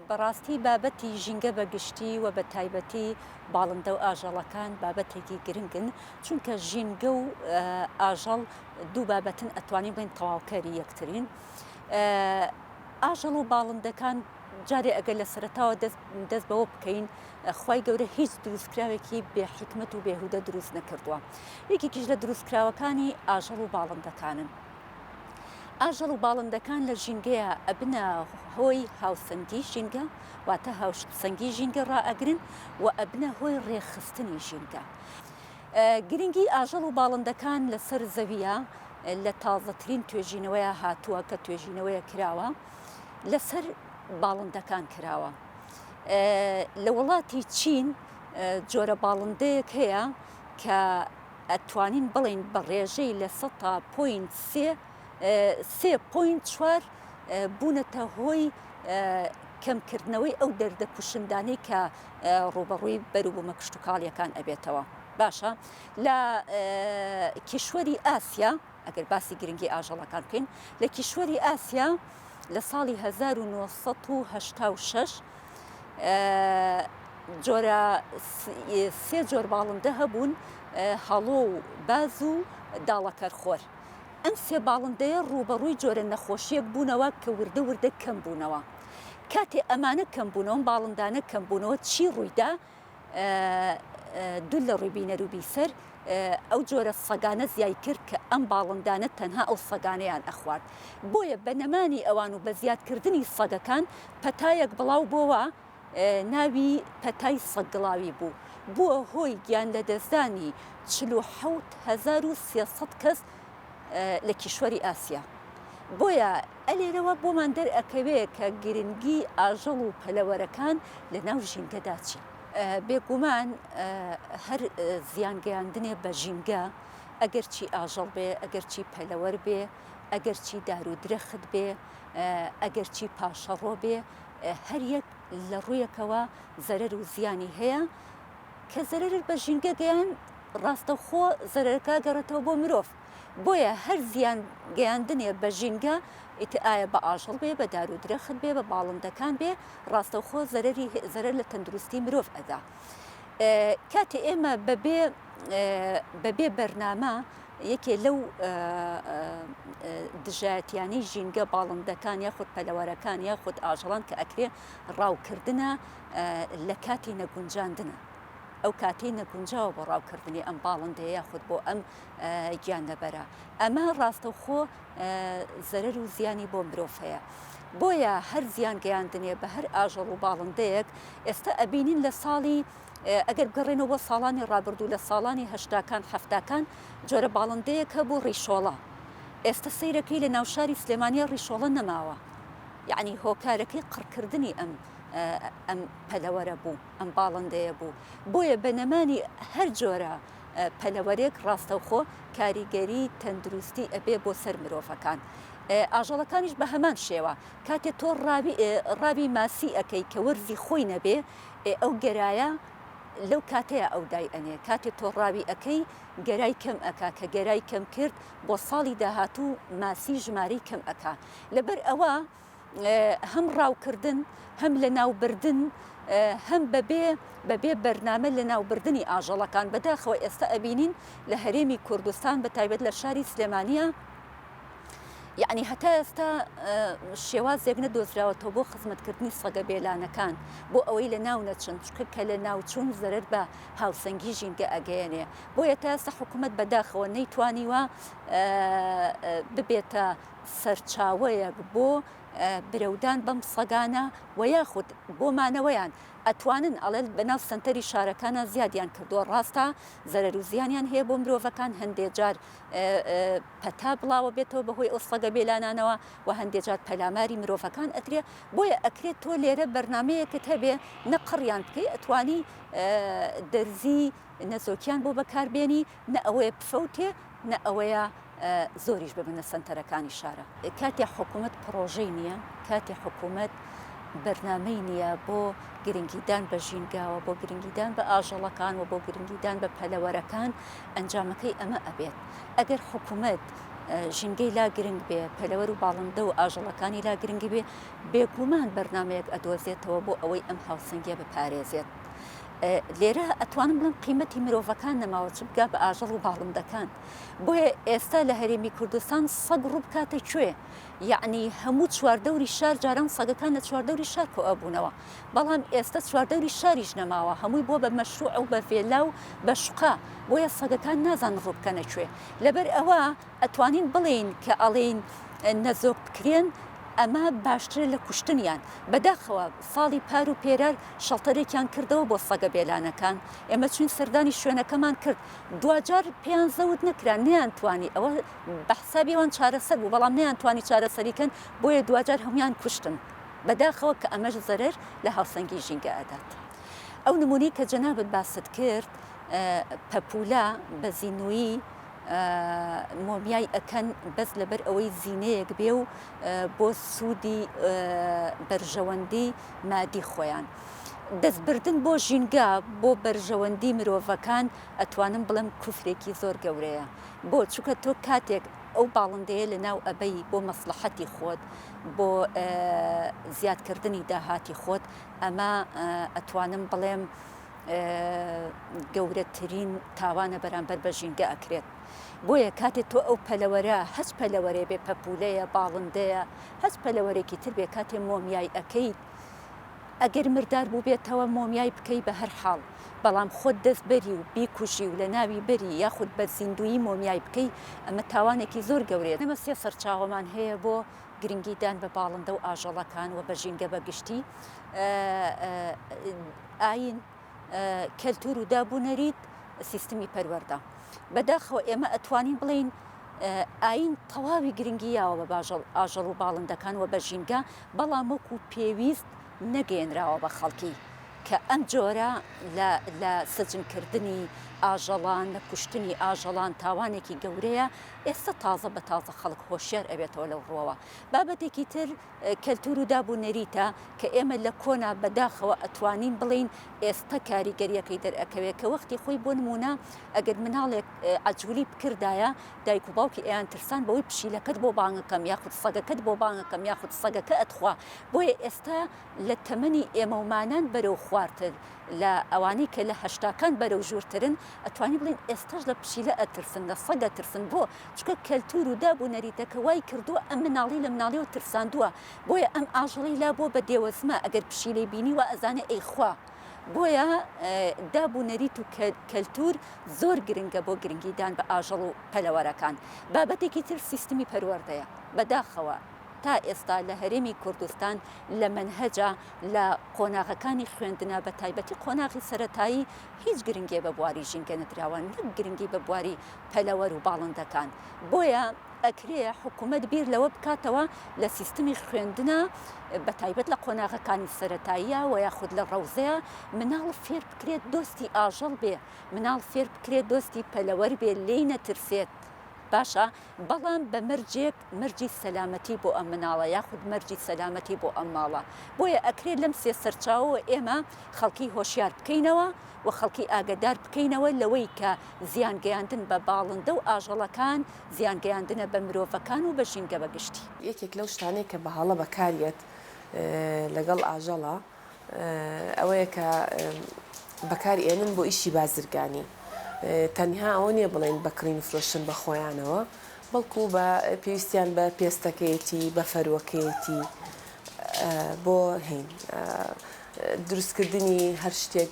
بەڕاستی بابەتی ژینگە بە گشتی و بە تایبەتی باڵندە و ئاژەڵەکان بابەتێکی گرنگن چونکە ژینگە و ئاژەڵ دوو بابەتن ئەتوانین بڵین تەواوکەری یەکترین ئاژەڵ و باڵندەکان جارێ ئەگەر لە سەرتاوە دەست بەوە بکەین خی گەورە هیچ دروستکراوێکی بێ حکمت و بێهودە دروست نەکردووە یەکێکیش لە دروستکراوەکانی ئاژەڵ و باڵندەکانن ئاژەڵ و باڵندەکان لە ژینگەیە ئەبنە هۆی هاوسەنگی ژینگە واتە هاوسەنگی ژینگە ڕائەگرن و ئەبنە هۆی ڕێخستنی ژینگە. گرنگی ئاژەڵ و باڵندەکان لەسەر زەویە لە تازەترین توێژینەوەیە هاتووە کە توێژینەوەیە کراوە لەسەر باڵندەکان کراوە. لە وڵاتی چین جۆرە باڵندەیەک هەیە کە ئەتوانین بڵێین بە ڕێژەی لە سەتا پۆینت سێ، سێ پۆینت چوار، بوونەتە هۆی کەمکردنەوەی ئەو دەردە کوشندانەی کە ڕووبەڕووی بەروبوومە کشتوکاڵییەکان ئەبێتەوە. باشە لە کیشوەری ئاسیا ئەگەر باسی گرنگی ئاژەڵەکان بکەین لە کیشوەری ئاسیا لە ساڵی 1986 جۆرە سێ جۆر باڵندە هەبوون هەڵۆ و باز و داڵەکەرخۆر ئەم سێ باڵندەیە ڕوبەڕووی جۆرە نەخۆشیەک بوونەوە کە وردە وردە کەم بوونەوە کاتێ ئەمانە کەم بوونەوە باڵندانە کەم بوونەوە چی ڕوویدا دوور لە ڕووی بینەر و بیسەر ئەو جۆرە سەگانە زیای کرد کە ئەم باڵندانە تەنها ئەو سەگانەیان ئەخوارد بۆیە بە نەمانی ئەوان و بە زیادکردنی سەگەکان پەتایەک بڵاو بۆوە ناوی پەتای سەگگڵاوی بوو بووە هۆی گیان لەدەستدانی 47300 کەس لە کیشوەری ئاسیا. بۆیە ئەلێرەوە بۆمان دەرئەکەوێ کە گرنگی ئاژەڵ و پەلەوەرەکان لە ناو ژینگەدا چی. بێگومان هەر زیان گەیاندنێ بە ژینگە، ئەگەر چی ئاژەڵ بێ، ئەگەر چی پەلەوەر بێ، ئەگەر چی دار و درەخت بێ، ئەگەر چی پاشەڕۆ بێ، هەر یەک لە ڕوویەکەوە زەرەر و زیانی هەیە. کە زەرەرر بە ژینگە گەیاند ڕاستەوخۆ زەرەرەکە گەڕێتەوە بۆ مرۆڤ بۆیە هەر زیان گەیاندنێ بە ژینگە ئیتر ئایا بە ئاژەڵ بێ بە دارو درەخت بێ بە باڵندەکان بێ ڕاستەوخۆ زەرەری زەرەر لە تەندروستی مرۆڤ ئەدا کاتێ ئێمە بەبێ بەبێ بەرنامە یەکێ لەو دژایەتیانەی ژینگە باڵندەکان یاخود پەلەوەرەکان یاخود ئاژەڵان کە ئەکرێ ڕاوکردنە لە کاتی نەگونجاندنا، ئەو کاتەی نەگونجاوە بۆ ڕاوکردنی ئەم باڵندەیە یاخود بۆ ئەم گیانلەبەرە، ئەمە ڕاستەوخۆ زەرەر و زیانی بۆ مرۆڤ هەیە، بۆیە هەر زیان گەیاندنێ بە هەر ئاژەڵ و باڵندەیەک ئێستا ئەبینین لە ساڵی ئەگەر بگەڕێنەوە بۆ ساڵانی ڕابردوو لە ساڵانی هەشتاکان حەفتاکان جۆرە باڵندەیەک هەبوو ڕیشۆڵە ئێستا سەیرەکەی لە ناوشاری سلێمانیا ڕیشۆڵە نەماوە یعنی هۆکارەکەی قڕکردنی ئەم ئەم پەلەوەرە بوو ئەم باڵندەیە بوو بۆیە بە نەمانی هەر جۆرە پەلەوەرێک ڕاستەوخۆ کاریگەری تەندروستی ئەبێ بۆ سەر مرۆڤەکان. ئاژەڵەکانیش بە هەمان شێوە کاتێ تۆ ڕاوی ماسی ئەەکەی کە وەرزی خۆی نەبێ ئەو گەرایە لەو کاتەیە ئەو دای ئەنێ کاتێ تۆ ڕاوی ئەەکەی گەرای کەم ئەک کە گەرای کەم کرد بۆ ساڵی داهاتوو ماسی ژمارەی کەم ئەک لەبەر ئەوە هەم ڕاوکردن هەم لەناوبردن هەم بەبێ بەبێ بەرنامە لەناوبردنی ئاژەڵەکان بەداخەوە ئێستا ئەبینین لە هەرێمی کوردستان بە تایبەت لە شاری سلێمانە یعنی هەتا ئێستا شێوازێک نەدۆزراوەتەوە بۆ خزمەتکردنی سەگە بێلانەکان بۆ ئەوەی لە ناو نەچن چکە کە لە ناوچوون زەرەر بە هاوسەنگی ژینگە ئەگەیەنێ بۆیە تاسە حکوومەت بەداخەوە نەیتوانیوە ببێتە سەرچاوەیەک بۆ برەودان بەم سەگانە وە یاخود بۆ مانەوەیان ئەتوانن ئەڵێن بەناو سەنتەری شارەکانا زیادیان کردوە ڕاستە زەرەرو زیانیان هەیە بۆ مرۆڤەکان هەندێ جار پەتا بڵاوە بێتەوە بەهۆی ئەو سەگە بێلانانەوە وە هەندێ جار پەلاماری مرۆڤەکان ئەترێ بۆیە ئەکرێ تۆ لێرە بەرنامەیەکت هەبێ نە قڕیان بکەی ئەتوانی دەرزی نەزۆکیان بۆ بەکاربێنی نە ئەوەیە بفەوتێ نە ئەوەیە زۆریش ببنە سەنتەرەکانی شارە. کاتێ حکوومەت پڕۆژەی نییە، کاتێ حکوومەت بەرنامەی نییە بۆ گرنگیدان بە ژینگاوە، بۆ گرنگیدان بە ئاژەڵەکان و بۆ گرنگیدان بە پەلەوەرەکان، ئەنجامەکەی ئەمە ئەبێت. ئەگەر حکوومەت ژینگەی لا گرنگ بێ، پەلەوەر و باڵندە و ئاژەڵەکانی لا گرنگ بێ، بێگومان بەرنامەیەک ئەدۆزێتەوە بۆ ئەوەی ئەم هاوسەنگییە بپارێزێت. لێرە ئەتوانم بڵێم قیمەتی مرۆڤەکان نەماوە چ بگا بە ئاژەڵ و باڵندەکان بۆیە ئێستا لە هەرێمی کوردستان سەگ ڕوو بکاتە کوێ یعنی هەموو چواردەوری شار جاران سەگەکان لە چواردەوری شار کۆ ئەبوونەوە بەڵام ئێستا چواردەوری شاریش نەماوە هەمووی بۆ بە مەشروع و بە ڤێلا و بە شقا بۆیە سەگەکان نازان ڕوو بکەنە کوێ لەبەر ئەوە ئەتوانین بڵێین کە ئەڵێین نەزۆک بکرێن ئەمە باشترە لە کوشتنیان، بەداخەوە ساڵی پار و پێرار شەڵتەرێکیان کردەوە بۆ سەگە بێلانەکان، ئێمە چوین سەردانی شوێنەکەمان کرد دواجار پێیان زەوت نەکرا نەیانتوانی ئەوە بەحسابی ئەوان چارەسەر بوو بەڵام نەیانتوانی چارەسەری کەن بۆیە دواجار هەمویان کوشتن بەداخەوە کە ئەمەش زەرەر لە هاوسەنگی ژینگە ئەدات ئەو نمونەی کە جەنابت باست کرد پەپولە بەزینویی مۆمیای ئەکەن بەس لەبەر ئەوەی زینەیەک بێ و بۆ سوودی بەرژەوەندی مادی خۆیان. دەستبردن بۆ ژینگە بۆ بەرژەوەندی مرۆڤەکان ئەتوانم بڵێم کوفرێکی زۆر گەورەیە بۆ چونکە تۆ کاتێک ئەو باڵندەیە لەناو ئەبەی بۆ مەسڵەحەتی خۆت بۆ زیادکردنی داهاتی خۆت ئەمە ئەتوانم بڵێم گەورەترین تاوانە بەرامبەر بە ژینگە ئەکرێت بۆیە کاتێ تۆ ئەو پەلەوەرە هەچ پەلەوەرێ بێ پەپولەیە باڵندەیە هەچ پەلەوەرێکی تر بێ کاتێ مۆمیای ئەەکەیت ئەگەر مردار بووبێتەوە مۆمیای بکەی بە هەر حاڵ بەڵام خۆت دەست بەری و بیکوژی و لە ناوی بەری یاخود بە زیندویی مۆمیای بکەی ئەمە تاوانێکی زۆر گەورێت ئەمە سێ سەرچاوەمان هەیە بۆ گرنگی دان بە باڵندە و ئاژەڵەکان و بە ژینگە بە گشتی ئایین، کەلتوور و دابونەریت، سیستمی پەروەردە. بەداخەوە ئێمە ئەتوانین بڵێین ئایین تەواوی گرنگی یاوە بە باژەڵ ئاژەڵ و باڵندەکان وە بە ژینگە بەڵام وەکو پێویست نەگەیەنراوە بە خەڵکی کە ئەم جۆرە لە لە سجن کردنی ئاژەڵان لە کوشتنی ئاژەڵان تاوانێکی گەورەیە ئێستا تازە بە تازە خەڵک هۆشیار ئەبێتەوە لەو ڕوەوە بابەتێکی تر کەلتور و داب و نەریتە کە ئێمە لە کۆنا بە داخەوە ئەتوانین بڵێین ئێستە کاریگەریەکەی دەرئەکەوێ کە وەختی خۆی بۆ نمونە ئەگەر مناڵێک عەجولی بکردایە دایک و باوکی ئەیان ترسان بەوەی پشیلەکەت بۆ بانگەکەم یاخود سەگەکەت بۆ بانگەکەم یاخود سەگەکە ئەتخوا بۆیە ئێستە لە تەمەنی ئێمەومانان بەرەو خوارتر لە ئەوانەی کە لە هەشتاکان بەرەو ژورترن ئەتوانی بڵێن ئێستەش لە پشیلە ئەترسن لە سەگ ئەترسن بۆ چونکە کەلتور و داب و نەریتەکە وای کردووە ئەم مناڵی لە مناڵیەوە ترساندووە بۆیە ئەم ئاژەڵەی لابووە بە دێوەزمە ئەگەر پشیلەی بینی وا ئەزانێ ئەی خوا بۆیە داب و نەریت و کەلتور زۆر گرنگە بۆ گرنگی دان بە ئاژەڵ و پەلەوەرەکان بابەتێکی تر سیستمی پەروەردەیە بەداخەوە تا ئێستا لە هەرێمی کوردستان لە مەنهەجا لە قۆناغەکانی خوێندنا بە تایبەتی قۆناغی سەرەتایی هیچ گرنگێ بە بواری ژینگە نەدراوە نەک گرنگی بە بواری پەلەوەر و باڵندەکان، بۆیە ئەکرێ حکومەت بیر لەوە بکاتەوە لە سیستمی خوێندنا بە تایبەت لە قۆناغەکانی سەرەتاییا وە یاخود لە ڕەوزەیا مناڵ فێر بکرێت دۆستی ئاژەڵ بێ مناڵ فێر بکرێت دۆستی پەلەوەر بێ لێی نەترسێت باشە بەڵام بە مەرجێک مەرجی سەلامەتی بۆ ئەم مناڵە یاخود مەرجی سەلامەتی بۆ ئەم ماڵە، بۆیە ئەکرێ لەم سێ سەرچاوەوە ئێمە خەڵکی هۆشیار بکەینەوە و خەڵکی ئاگەدار بکەینەوە لەوەی کە زیان گەیاندن بە باڵندە و ئاژەڵەکان زیان گەیاندنە بە مرۆڤەکان و بە ژینگە بە گشتی. یەکێک لەو شتانەی کە بە هەڵە بەکاریەت لەگەڵ ئاژەڵە. ئەوەیە کە بەکاری ئێنن بۆ ئیشی بازرگانی تەنها ئەوە نیە بڵێن بە کڕین و فرۆشتن بە خۆیانەوە بەڵکو بە پێویستیان بە پێستەکەیەتی بە فەروەکەیەتی بۆ هین دروستکردنی هەر شتێک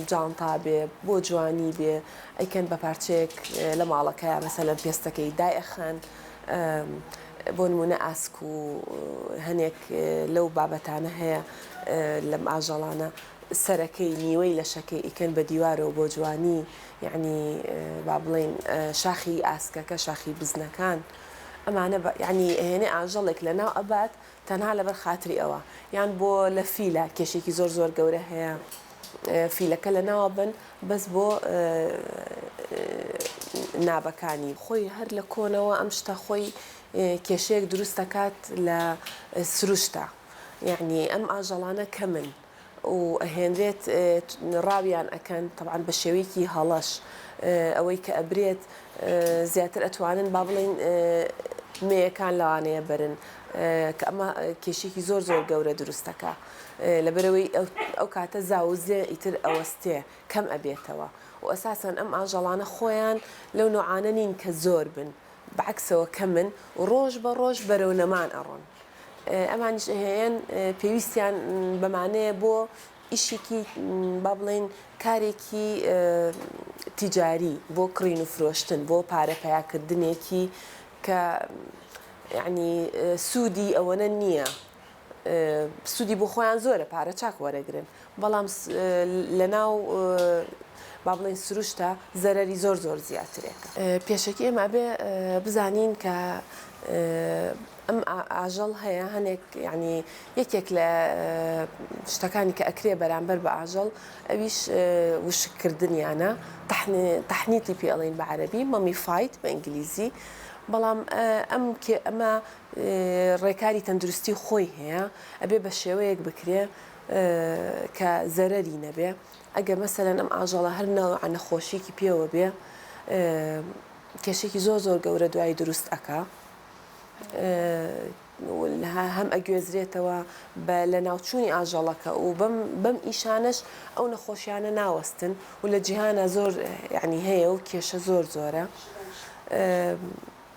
جانتا بێ بۆ جوانی بێ ئەیکەن بە پارچەیەک لە ماڵەکە مەسەلەن پێستەکەی دایەخەن بۆ نموونە ئاسک و هەنێک لەو بابەتانە هەیە لەم ئاژەڵانە سەرەکەی نیوەی لەشەکەی ئیکەن بە دیوارەوە بۆ جوانی یەعنی با بڵێین شاخی ئاسکەکە شاخی بزنەکان ئەمانە یەعنی ئەهێنێ ئاژەڵێک لەناو ئەبات تەنها لەبەر خاتری ئەوە یان بۆ لە فیلە کێشێکی زۆر زۆر گەورە هەیە فیلەکە لەناوە بەن بەس بۆ نابەکانی. خۆی هەر لە کۆنەوە ئەم شتە خۆی کێشەیەک دروست دەکات لە سروشتا یەعنی ئەم ئاژەڵانە کەمن و ئەهێنرێت ڕاویان ئەکەن تەبعەن بە شێوەیەکی هەڵەش ئەوەی کە ئەبرێت زیاتر ئەتوانن با بڵێین مێیەکان لەوانەیە بەرن کە ئەمە کێشەیەکی زۆر زۆر گەورە دروست دەکا. لەبەرئەوەی ئەو کاتە زاو و زێ ئیتر ئەوەستێ کەم ئەبێتەوە و ئەساسەن ئەم ئاژەڵانە خۆیان لەو نەوعانە نین کە زۆر بن بەعەکسەوە کەمن و ڕۆژ بە ڕۆژ بەرەو نەمان ئەڕۆن ئەمانیش ئەهێن پێویستیان بەمانەیە بۆ ئیشێکی با بڵێین کارێکی تیجاری بۆ کڕین و فرۆشتن بۆ پارە پەیا کردنێکی کە یەعنی سوودی ئەوەنە نییە سودی بۆ خۆیان زۆرە پارە چاک وەرەگرن بەڵام لە ناو با بڵێن سروشتە زەرری زۆر زۆر زیاترێک پێشەکی ئێمە بێ بزانین کە ئەم ئاژەڵ هەیە هەنێک ینی یەکێک لە شتەکانی کە ئەکرێ بەرامبەر بە ئاژەڵ ئەویش وشکردنیانە تەحنیتی پێڵین بە عەربی مەمی فیت بە ئینگلیزی بەڵام ئەم کێ ئەمە ڕێکاری تەندروستی خۆی هەیە ئەبێ بە شێوەیەک بکرێ کە زەرەری نەبێ ئەگەر مەسەرەن ئەم ئاژەڵە هەر ناو نەخۆشیکی پێوە بێ کێشێکی زۆر زۆر گەورە دوایی دروست ئەکا هەم ئەگوێزرێتەوە بە لە ناوچووی ئاژەڵەکە و بەم بەم ئیشانەش ئەو نەخۆشیانە ناوەستن و لە جیهانە زۆر یعنی هەیە و کێشە زۆر زۆرە.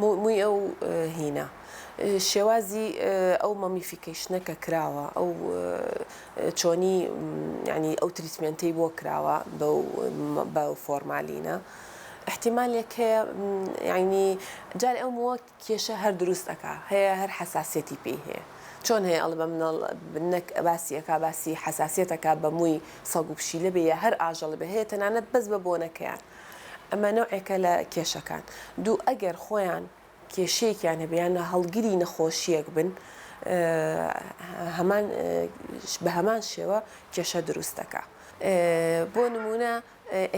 مووی ئەو هینە، شێوازی ئەو مەمیفیکەیشنە کە کراوە، ئەو چۆنی یانی ئەو تریتمێنتەی بۆ کراوە بە ئەو فۆرمالینە، ئیحتیمالێک هەیە یانی جارێ ئەو مووە کێشە هەر دروست ئەکا، هەیە هەر حەساسیەتی پێی هەیە، چۆن هەیە ئەڵێ بە مناڵ نەک باسی ئەکا باسی حەساسیەت ئەکا بە مووی سەگ و پشیلە بێ یا هەر ئاژەڵ بێ، هەیە تەنانەت بەس بە بۆنەکەیان ئەمە نەوعێکە لە کێشەکان. دوو ئەگەر خۆیان کێشەیەکیان هەبێ یان هەڵگری نەخۆشییەک بن هەمان بە هەمان شێوە کێشە دروست دەکا. بۆ نمونە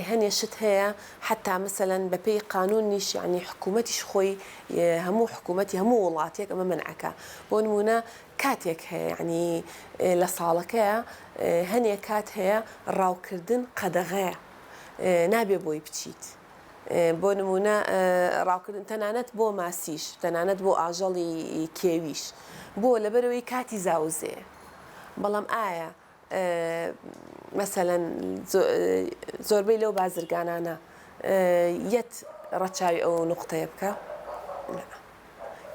هەنێ شت هەیە حتا مەسەلەن بەپێی قانونیش یعنی حکوومەتیش خۆی هەموو حکوومەتی هەموو وڵاتێک ئەمە مەنعەکە بۆ نمونە کاتێک هەیە یعنی لە ساڵەکەیە هەنێ کات هەیە ڕاوکردن قەدەغەیە. نابێ بۆی بچیت بۆ نموونە ڕاوکردن تەنانەت بۆ ماسیش تەنانەت بۆ ئاژەڵی کێویش بۆ لەبەرەوەی کاتی زاوزێ بەڵام ئایا مەسەەن زۆربەی لەو بازرگانانە یەت ڕەچاوی ئەو نقطەیە بکە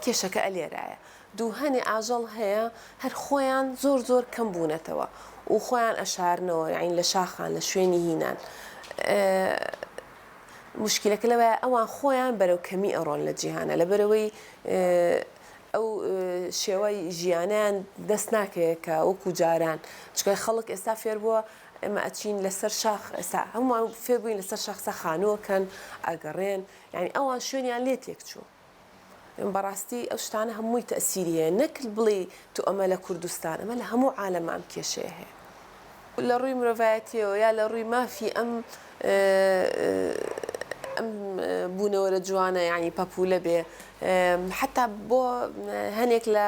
کێشەکە ئەلێرایە دوهەنێ ئاژەڵ هەیە هەر خۆیان زۆر زۆر کەم بونەتەوە و خۆیان ئەشارنەوە یاعنی لە شاخان لە شوێنی هینان موشکیلەکە لەوەیە ئەوان خۆیان بەرەو کەمی ئەڕۆن لە جیهانا لەبەرئەوەی ئەو شێوە ژیانەیان دەست ناکەوێت کە وەکو جاران چونکە خەڵک ئێستا فێر بووە ئێمە ئەچین لەسەر شاخ ئێستا هەمووان فێر بووین لەسەر شاخ سا خانووەکەن ئەگەڕێن یاعنی ئەوان شوێنیان لێ تێک چووە بەڕاستی ئەو شتانە هەمووی تەئسیری هەیە نەک بڵێی تۆ ئەمە لە کوردستان ئەمە لە هەموو عالەمە ئەم کێشەیە هەیە لە ڕووی مرۆڤایەتیەوە یا لە ڕووی مافی ئەم ئەم بوونەوەرە جوانە یعنی پەپولە بێ حتا بۆ هەنێک لە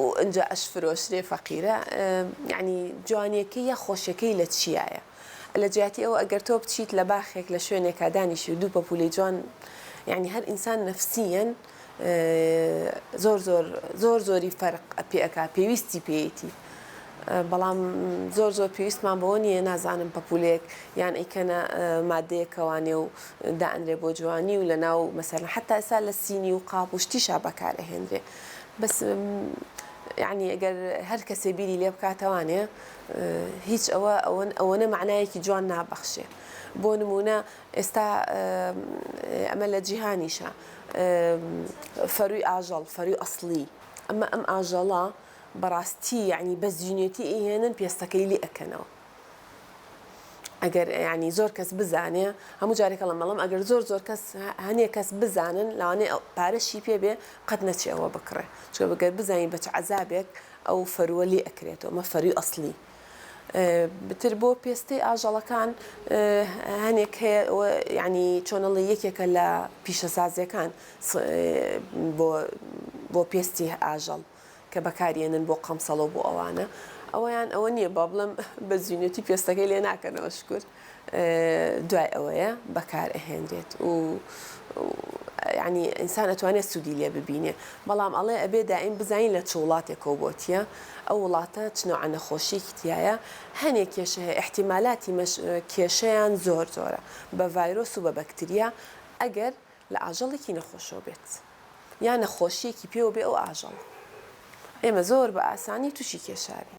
و ئنجا ئەش فرۆشرێ فەقیرە یانی جوانیەکەی یا خۆشیەکەی لە چیایە لە جیاتی ئەوە ئەگەر تۆ بچیت لە باخێک لە شوێنێکا دانیشی و دوو پەپوولەی جوان یانی هەر ئینسان نەفسیەن زۆر زۆر زۆر زۆری فەرق پێ ئەکا پێویستی پێیتی بەڵام زۆر زۆر پێویستمان بەوە نییە نازانم پەپولێک یان ئەیکەنە مادەیەکەوانێ و دائەنرێ بۆ جوانی و لە ناو مەسەر حتا ئسا لە سینی و قاپ و شتیشا بەکارەهێنرێ بەس یەعنی گەر هەر کەسێ بیری لێ بکاتە وانێ هیچ ئەوە ئەوەن ئەوەنە مەعنایەکی جوان نابەخشێ بۆ نمونە ئێستا ئەمە لە جیهانیشە فەروی ئاژەڵ فەروی ئەسلی ئەمە ئەم ئاژەڵە بەڕاستی یعنی بەزیینێتی ئیهێنن پێستەکەی لێ ئەکەنەوە ئەگەر یعنی زۆر کەس بزانێ هەموو جارێک هەڵم بەڵام ئەگەر زۆر زۆر کەس هەنێ کەس بزانن لەوانێ پارەشی پێ بێ قەت نەچێ ئەوە بکڕێ چکە بەگەر بزانین بە چ عەزابێک ئەو فەرووە لێ ئەکرێتەوە مە فەرووی ئەسڵی بتر بۆ پێستەی ئاژەڵەکان هەنێک هەیە یعنی چۆنەڵی یەکێکە لە پیشەسازیەکان بۆ بۆ پێستی ئاژەڵ کە بەکاریێنن بۆ قەمسەڵەو بۆ ئەوانە ئەوەیان ئەوە نیە با بڵێم بە زوینەتی پێستەکەی لێ ناکەنەوە شکور دوای ئەوەیە بەکار ئەهێنرێت و ینی ئینسان ئەتوانێت سوودی لێ ببینێ بەڵام ئەڵێ ئەبێ دائیم بزانین لە چ وڵاتێکەوە بۆتیە ئەو وڵاتە چنەوە نەخۆشیەکی تایە هەنێک کێشە هەیە احتیمالاتی کێشیان زۆر زۆرە بە ڤایرۆس و بە بەکتریا ئەگەر لە ئاژەڵێکی نەخۆشەوە بێت یا نەخۆشیەکی پێوە بێ ئەو ئاژەڵە ئێمە زۆر بە ئاسانی توشی کێشاوین.